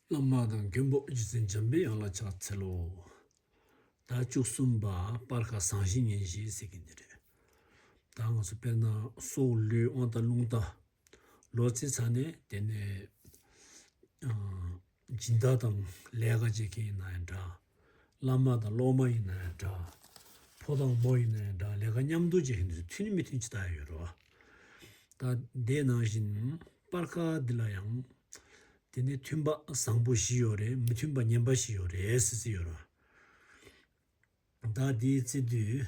བླ་མ་དང་མཁན་པོ་རྗེ་བཙུན་འཇམ་པའི་དབྱངས་ལ་ཕྱག་འཚལ་ལོ། ཟླ་བཅུ་གསུམ་པ་སྤར་ཁ་བཟང་བཞི་ཉིན་བཞེས་ཟེར་གི་འདི་རེད། ད་ང་ཚོ་དཔལ་ནང་སོག་ལོའི་དབང་རྟ་ལུང་རྟ། ལོ་རྩིས་ཚར་ནས་དེ་ནས་སྦྱིན་བདག་དང་ལས་ཀ་བྱེད་མཁན་ཡིན་ན་ཡང་འདྲ། བླ་མ་དང་སློབ་མ་ཡིན་ན་ཡང་འདྲ། ཕོ་དང་མོ་ཡིན་ན་ཡང་འདྲ་ལས་ཀ་མཉམ་དུ་བྱེད་བཞིན་དུ་མཐུན་མི་མཐུན་ཇི་ལྟར་ཡོད་རོ། ད་ལྟའི་ནང་བཞིན་སྤར་ཁ་འདི་ལ་ཡང། དེ་ནས་མཐུན་པ་བཟང་པོ་བཞི་ཡོད་རེད་མི་མཐུན་པ་ངན་པ་བཞི་ཡོད་རེད་ཟེར་གྱི་ཡོད་རོ། ད་དེའི་ཚེ་དུས་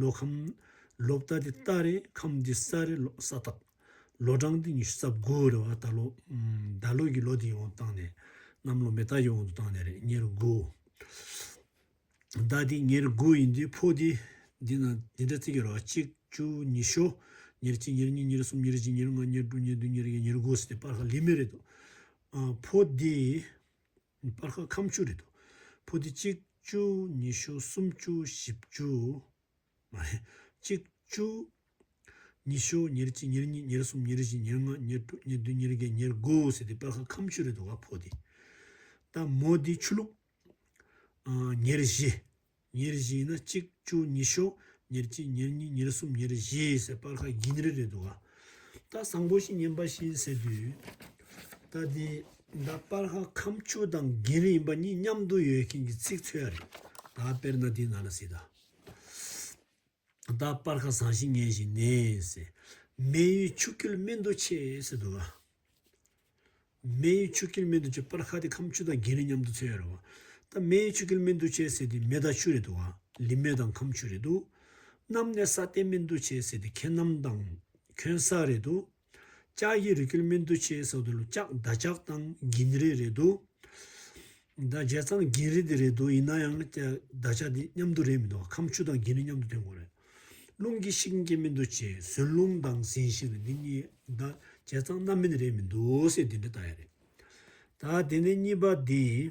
ལོ་ཁམས། ལོ་བརྟག་འདི་རྟགས་རེད་ཁམས་འདི་ས་རེད་ལོ་ས་རྟགས། ལོ་གྲངས་འདི་ཉི་ཤུ་རྩ་དགུ་རེད་བ་ད་ལོ། ཟླ་ལོ་ཡི་ལོ་འདི་ཡི་དབང་དུ་བཏང་ནས། གནམ་ལོ་མེ་སྟག་ཡི་དབང་དུ་བཏང་ནས་རེད་ཉེར་དགུ། ཟླ་འདི་ཉེར་དགུ་ཡིན་དུས་ཕོ་འདི། འདི་ན་འདི་འདྲ་བརྩི་གི་རོགས་གཅིག་བཅུ་ཉི་ཤོ། ཉེར་གཅིག་ཉེར་གཉིས་ཉེར་གསུམ་ཉེར་བཞི་ཉེར་ལྔ་ཉེར་དྲུག་ཉེར་བདུན་ཉེར་བརྒྱད་ཉེར་དགུ་ཟེར་ཏེ་སྤར་ཁ་ལི་མི་རེད་འདུག་ཨ། ཕོ་འདི། སྤར་ཁ་ཁམ་བཅུ་རེད་དོ། ཕོ་དེ་གཅིག་བཅུ་ཉི་ཤུ་སུམ་བཅུ་བཞི་བཅུ། མ་རེད། གཅིག་བཅུ། ཉི་ཤུ་ཉེར་གཅིག་ཉེར་གཉིས་ཉེར་གསུམ་ཉེར་བཞི་ཉེར་ལྔ་ཉེར་དྲུག་ཉེར་བདུན་ཉེར་བརྒྱད་ཉེར་དགུ་ཟེར་དེ་སྤར་ཁ་ཁམ་བཅུ་རེད་དོ་ག་ཕོ་དེ། ད་མོ་དེ་ཆུ་ལུག། ཉེར་བཞི། ཉེར་བཞི་ནི་གཅིག་བཅུ་ཉི་ཤུ། ཉེར་གཅིག་ཉེར་གཉིས་ཉེར་གསུམ་ཉེར་བཞི་ཟེར་སྤར་ཁ་རྒྱན་རེ་རེ་འདུག་ཨ། ད་བཟང་པོ་ཞིག་ཉན་པ་བཞིན་ཟེར་དུས། ད་དེ་འདྲ་སྤར་ཁ་ཁམས་བཅུ་དང་རྒྱན་རེ་ཡིན་པ་གཉིས་མཉམ་དུ་ཡོད་མཁན་གྱི་ཚིག་མཚོན་ཡ་རེད། ད་དཔེར་ན་དེ་ན་ན་སི་ད། བདག་སྤར་ཁ་བཟང་ཞིང་ངན་ཞིང་ནས། སྨན་ཡུལ་ཆུ་སྐྱིལ་སྨན་དུ་ཆེ། སྨན་ཡུལ་ཆུ་སྐྱིལ་སྨན་དུ་ཆེ་སྤར་ཁ་དེ་ཁམ་ཆུ་དང་རྒྱན་རིང་མཉམ་དུ་ཚོས་རེད། སྨན་ཡུལ་ཆུ་སྐྱིལ་སྨན་དུ་ཆེ་ཟེར་དུས་མེ་དང་ཆུ་རེད། ལི་མེ་དང་ཁམ་ཆུ་རེད། གནམ་ནས་ས་གཏན་སྨན་དུ་ཆེ་ཟེར་དུས་ཁྱེད་གནམ་དང་ཁྱོད་ས་རེད། ལྕགས་ཀྱི་རི་ཁུལ་སྨིན་དུ་ཆེའི་ས་དུ་ལུ་ལྕགས་མདའ་ལྕགས་ཐང་འགྱིང་རི་རེད་འདུག་མདའ་ལྕགས་ཐང་འགྱིང་རི་དེ་རེད་འདུག་ཡིན་ན་ཡང་མདའ་ལྕགས་དེ་མཉམ་དུ་རེད་མི་འདུག་ཁམས་ཆུ་དང་འགྱིང་རི་མཉམ་དུ་འདོན་དགོས་རེད། རླུང་གིས་ཤིག་འགྱིང་སྨིན་དུ་ཆེ་ཟོན་རླུང་དང་ཟིན་བཞིན་རེད་འདི་གཉིས་མདའ་ལྕགས་ཐང་རྣམ་སྨིན་རེད་མི་འདུག་སེ་འདི་འདྲ་ལྟ་ཡ་རེད། ད་དེ་ནས་གཉིས་པ་འདི།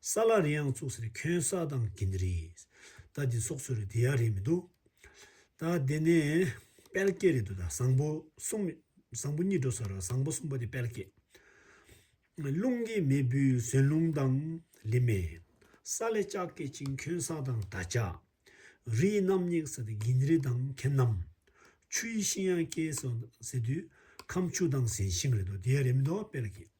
ས་ལར་ཡང་བཙུགས་ཟེར་ཁྱོད་ས་དང་དགེ་འདི་རེད། ད་འདི་སོགས་ཚུར་འདི་ཡག་རེད་མི་འདུག། ད་འདི་ནི་དཔལ་སྐྱེས་རེད་འདུག་ད་བཟང་པོ་གསུམ་བཟང་པོ་གཉིས་འགྲོ་ཟེར་བཟང་པོ་གསུམ་པོ་དེ་དཔལ་སྐྱེས། རླུང་གིས་མེ་འབུལ་ཟེར་རླུང་དང་ལི་མེ། ས་ལས་ལྕགས་སྐྱེས་ཅིང་ཁྱོད་ས་དང་ད་ལྕགས། རི་ཡི་རྣམ་སྙེགས་ཟེར་དུས་དགེ་འདི་རེད་དང་ཁྱེད་རྣམ། ཆུ་ཡི་ཤིང་ཡང་སྐྱེས་ཟེར་དུས་ཁམས་ཆུ་དང་ཟན་ཤིང་རེད་འདུག་འདི་ཡག་རེད་མི་འདུག་དཔལ་སྐྱེས།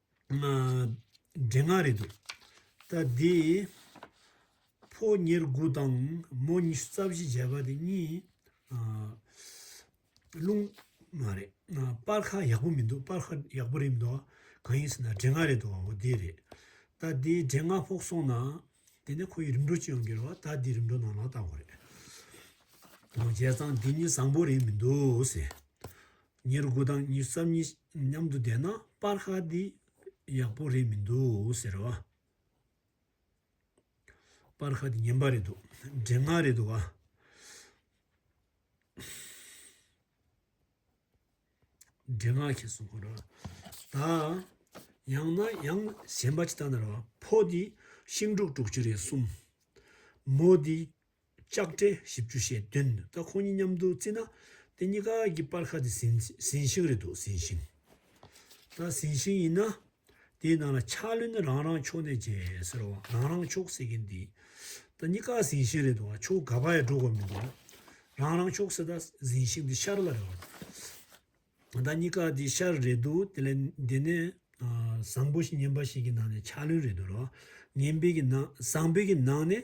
འདྲེ་ང་རེད་འདུག་ད་འདི། ཕོ་ཉེར་དགུ་དང་མོ་ཉི་ཤུ་རྩ་བཞི་བརྒྱད་པ་དེ་གཉིས། རླུང། མ་རེད། སྤར་ཁ་ཡག་པོ་མི་འདུག་སྤར་ཁ་ཡག་པོ་རེད་མི་འདུག་གང་ཡིན་ཟེར་ན་འདྲེ་ང་རེད་འདུག་འོ་དེ་རེད། ད་འདི་འདྲེ་ང་ཕོག་སོང་ན། དེ་ནས་ཁོ་ཡི་རིམ་གྲོ་ཅི་ཡང་འགེལ་བ་ད་འདི་རིམ་གྲོ་ནང་ལ་བཏང་བ་རེད། རྗེས་ཚང་འདི་གཉིས་བཟང་པོ་རེད་མི་འདུག་ཟེར། ཉེར་དགུ་དང་ཉེར་གསུམ་གཉིས་མཉམ་དུ་བསྡད་ན་པར་ཧ་འདི་ཡག་པོ་རེད་མི་འདུག་ཟེར་བ། པར་ཧ་འདི་ངན་པ་རེད་འདུག་འདྲེ་ང་རེད་འདུག་ག། འདྲེ་ང་ཁྱེད་གསུང་ཁོ་ར། ད་ཡང་ན་ཡང་གཞན་པ་ཅི་ལྟ་ན་ར་བ། ཕོ་འདི་ཤིང་དཀྲུག་དཀྲུག་བྱེད་རེད་གསུམ། མོ་འདི་ལྕགས་སྤྲེལ་བཞི་བཅུ་ཞེས་བདུན་འདུག་ད་ཁོང་གཉིས་མཉམ་དུ་བརྩིས་ན་དེ་གཉིས་ཀ་གི་སྤར་ཁ་དེ་ཟིན་ཟིན་ཤིང་རེད་འདུག་ཟིན་ཤིང། ད་ཟིན་ཤིང་ཡིན་ན། དེའི་ནང་ལ་ཆགས་ལོན་ནི་རང་རང་ཕྱོགས་ནས་བྱས་ཟེར་བ་རང་རང་ཕྱོགས་ཟེར་གྱིན་འདི་ད་གཉིས་ཀ་ཟིན་ཤིང་རེད་འདུག་ཨ་ཆོག་ག་པ་ཡ་འགྲོ་དགོས་མི་འདུག་རང་རང་ཕྱོགས་ཟེར་ད་ཟིན་ཤིང་འདི་ཤར་ལ་རེད་བ་ད་གཉིས་ཀ་འདི་ཤར་རེད་འདུག་དེ་ལས་འདི་ནས་བཟང་པོ་ཞིག་ངན་པ་ཞིག་གི་ནང་ནས་ཆགས་ལོན་རེད་འདུག་ར་བ་ངན་པའི་གི་ནང་བཟང་པོའི་གི་ནང་ནས་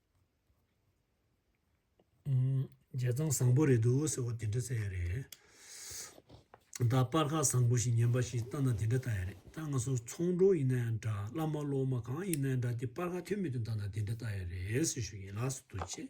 འཇལ་སྟངས་བཟང་པོ་རེད་འདུག་ཟེར་བ་དེ་འདྲ་བཙལ་ཡ་རེད། ད་སྤར་ཁ་བཟང་པོ་ཞིག་ཉན་པ་ཞིག་ལྟ་ན་དེ་འདྲ་ལྟ་ཡ་རེད་ད་ང་ཚོ་ཚོང་གྲོང་ཡིན་ན་ཡང་འདྲ་བླ་མ་སློབ་མ་གང་ཡིན་ན་ཡང་འདྲ་དེ་སྤར་ཁ་ཐོན་མི་ཐོན་ལྟ་ན་དེ་འདྲ་ལྟ་ཡ་རེད་ཟེར་ཞུ་ཡིན་ལགས་སུ་འདུག་ཅེས།